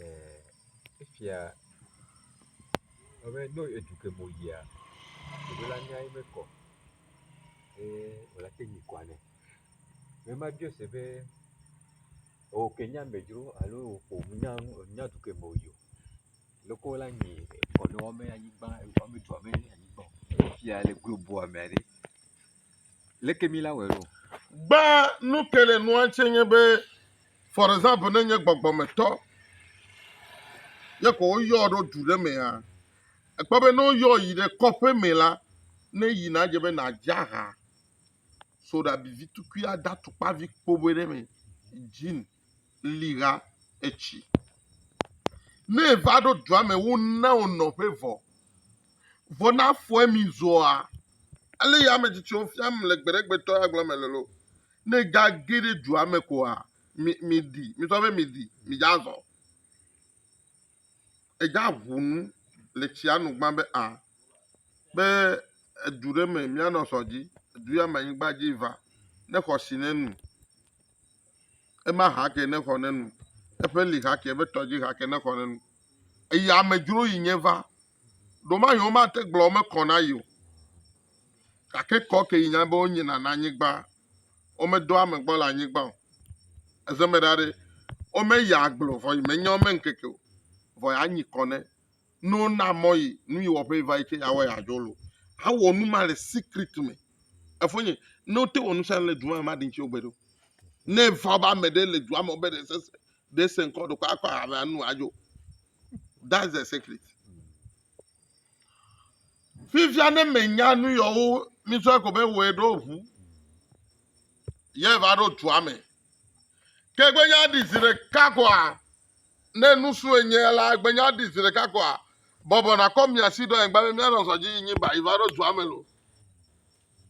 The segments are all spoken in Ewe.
e efia abe ne edu ke me woyia ɖevi la nyae mekɔ o ye wòle te ŋu kua nɛ. Ne mebia ese be ewɔ ke nye amedzro alo ƒo nu na nu enya du ke me woyi o. Leke wola nyi kɔ ne woame anyigba woame dua me anyigba o. Efia le globua me ɖe. Leke mi la wɔe ɖo? Gba nu ke le nua tse nye be, for example, ne nye gbɔgbɔmetɔ ye ko woyɔ ɖo du ɖe mea, ekpɔ be ne woyɔ yi ɖe kɔƒe me la, ne yi na dze be nadze aha soɖabivi tukui ada tukpavi kpoboe ɖe me, jean. li ɣa etsi. Ne eva ɖo dua me wona wò nɔƒe vɔ. Vɔ na fɔe mi zɔa. Ale ya ame tsitsiwo fiam le gbeɖegbetɔ ya gblɔ me lolo. Ne ga ge ɖe dua me koa, mi, mi di, mi sɔ be mi di, mi dza zɔ. Edza ʋunu le tsia nu gbã be a, be edu ɖe me mianɔ sɔ dzi, edu ya me anyigba dzi va, ne xɔ si ne nu. ema hake ne xɔ ne nu, eƒe li hake, eƒe tɔ dzi hake ne xɔ ne nu. Eyi amedzro yi nye va, ɖomayi womate gblɔ wo mekɔ na yi o. Gake kɔ ke yi nya be wonye nana anyigba, womedo ame gbɔ le anyigba o. Eze me ɖa ɖe, womeyi agble o, vɔ yi menye wo me ŋkeke o, vɔ ya nyi kɔ ne. Ne wona mɔ yi nu yi wɔƒe yi va yi ke yeawɔ yeadzɔ lo. Awɔ nu ma le secret me. Efonye, ne wote wɔ nu sia nu le du ma me maɖi ŋuti wogbe ɖo. Ne eva be ame ɖe le dua me be ɖe sese ɖe se ŋkɔ ɖokɔ akɔ ame anu adzo. That's the secret. Fifia ne menya nu yewo misɔ ko be wɔe ɖo ʋu. Ye va ɖo dua me. Ke gbe nya ɖi zi ɖeka koa Ne nusue nye ya la, egbe nya ɖi zi ɖeka koa? Bɔbɔ nakɔ mia si ɖo anyigba be mianɔ zɔ dzi yinyi ba yi va ɖo dua me lo.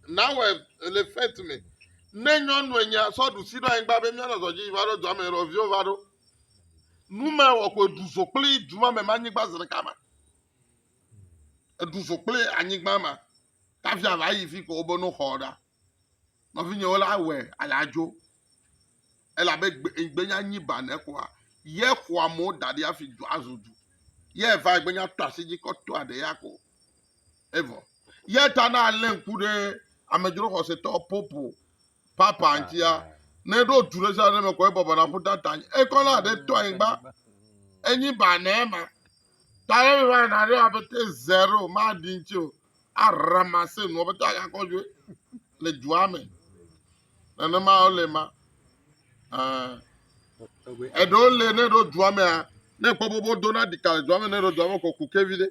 Nawɔe le fete me. Ne nyɔnue nye ya sɔ ɖusi ɖo anyigba be mianɔ zɔ dzi yi va ɖo dua me lo, viwo va ɖo. Nu me wɔ ko eɖu zo kple duma me ma anyigba zi ɖeka ma. Eɖu zo kple anyigba ma. Tavia va yi fi ko wobe no xɔ ɖa. Nɔvinyewo la wɔe ale adzo elabe gbe egbe nya nyi ba ne kɔa ye xɔa mo da ɖi afi du azu du ye va egbe nya to asi dzi kɔ to aɖe ya ko evɔ ye ta na ale ŋku ɖe amedzro xɔsetɔ popo papa ŋutia ne ɖo tu ɖe sia ɖe me kɔ ebɔbɔ na ƒuta ta anyi ekɔ na aɖe to anyigba enyi ba ne ma ta ne mi va na ɖe apete zero ma ɖi ŋuti o Aramasin, wɔƒetɔ agakɔ dzoe le dua me. Nenema wole ma. Eɖewo le ne ɖo dua mea, ne kpɔ bobo dona ɖika le dua me ne ɖo dua me kɔ kuke vi ɖe.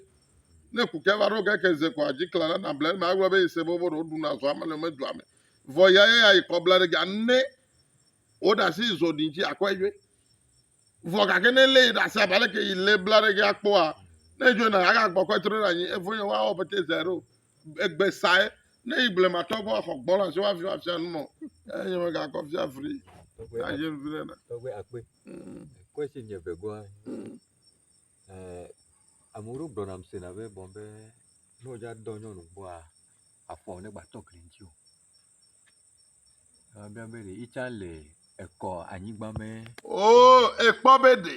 Ne kuke va ɖo keke ze kɔ adzi kla ɖe nable eme agblɔ be yese bobo ɖo ɖuna zɔa me le me dua me. Vɔ ya ya ya yi kɔ bla ɖe ga ne woɖe asi zɔ ɖi dzi akɔe dzoe. Vɔ gake ne lé yi ɖe asi abe aleke yi lé bla ɖe ge akpɔa, ne edzo na aga gbɔ kɔ etrɔ ɖe anyi, evo nye wa wɔ pete zɛ ɖo. Egbe sae, ne yi blema tɔ vɔ xɔ gbɔ la si wa fi wa fia nu mɔ, eh nye me ga kɔ fia fri. Ya je fri ɖe na. Tɔgbe akpe. Mm. Kɔe si nye ve goa. Mm. Eh, amu ro gbɔ nam se na ve bon be, no ja dɔ nyɔnu boa, afɔ ne gba tɔ kli nti o. Oo, èkpɔ be ɖe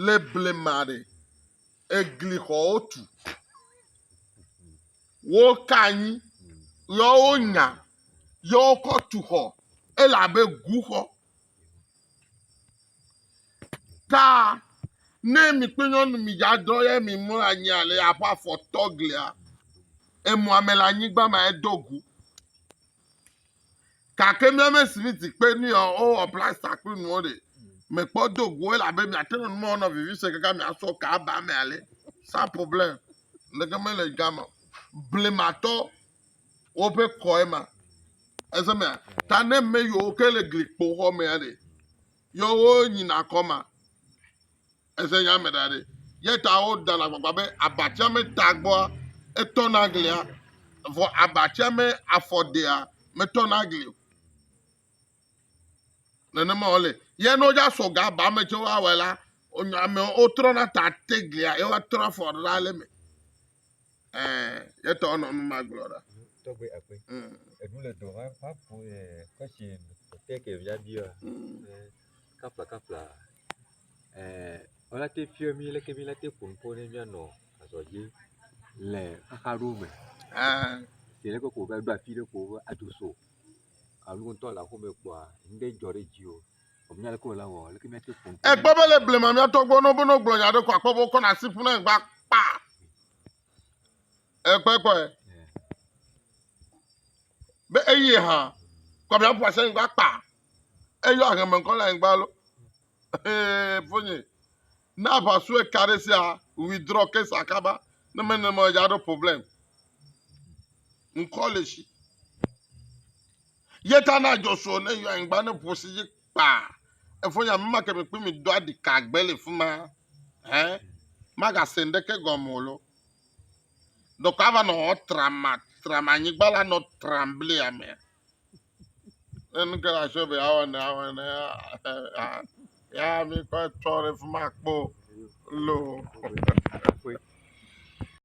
le blema ɖe, eglixɔwo tu, woka anyi yɔ wonya yɔ wokɔ tu xɔ elabe guxɔ Ta ne mi kple nyɔnu mi dza dɔ ye mi mlɔ anyi ale aƒe afɔ tɔ glia, emɔ ame le anyigba ma edo gu. Gake mi ame si mi dikpe ni ɔ, owɔ plasta kple nuwo ɖe, mekpɔ do gu o elabe miate ŋu numɔ nɔ vivi se kaka miasɔ ka aba me ale. Sans problème. Leke mele gama. Blematɔ. woƒe kɔe ma eze mea ta ne me yiwo ke le gli kpo xɔ mea ɖe yɔ wo nyina kɔ ma eze nya me da ɖe ye ta wo da na gbagba be abatsia me ta gbɔa etɔ na glia vɔ abatsia me afɔ dea metɔ na gli o nenema wòle ye ne wodza sɔ ga ba me tse woawɔe la onye amewo wotrɔna ta te glia ye woatrɔ afɔ ɖe ɖa le eme yetɔ nɔ nu ma gblɔ ɖa. tɔgbe akpe eɖu le dɔ va va ƒo yɛ kɔsi tɛkɛ via bi wa kapla kapla wala te fiɔ mi leke mi la te ƒo nuƒo ne mianɔ azɔ dzi le xaxa ɖewo me si leke ko va ɖo afi ɖe ko va ado so alo ŋtɔ le aƒeme kpɔa ŋɖe dzɔ ɖe dzi o. Ekpɔ be le blema mía tɔgbɔ no bono gblɔ nya ɖe ko akpɔ be wokɔ na si ƒuna egba kpa. Ekpɔ ekpɔ ɛ. Be eye hã kɔ mía ƒua se egba kpa. Eyɔ aheme ŋkɔ le egba lo. Ee fonye. Na ƒa su eka ɖe sia withdraw case akaba. Ne me ne me ya ɖo problem. Ŋkɔ le shi. Ye ta na Joshua ne yɔ anyigba ne ƒo si dzi kpaa. Efo nya mema ke mi kpui mi do adi ka gbe le fuma. Hɛ. Maga se ndeke gɔme lo. Dɔkɔ ava nɔ hɔ trama trama anyigba la nɔ tram bli ame. Ne nu ke la sɔ be awa ne awa ne ya mi kɔ tsɔ le fuma kpo lo.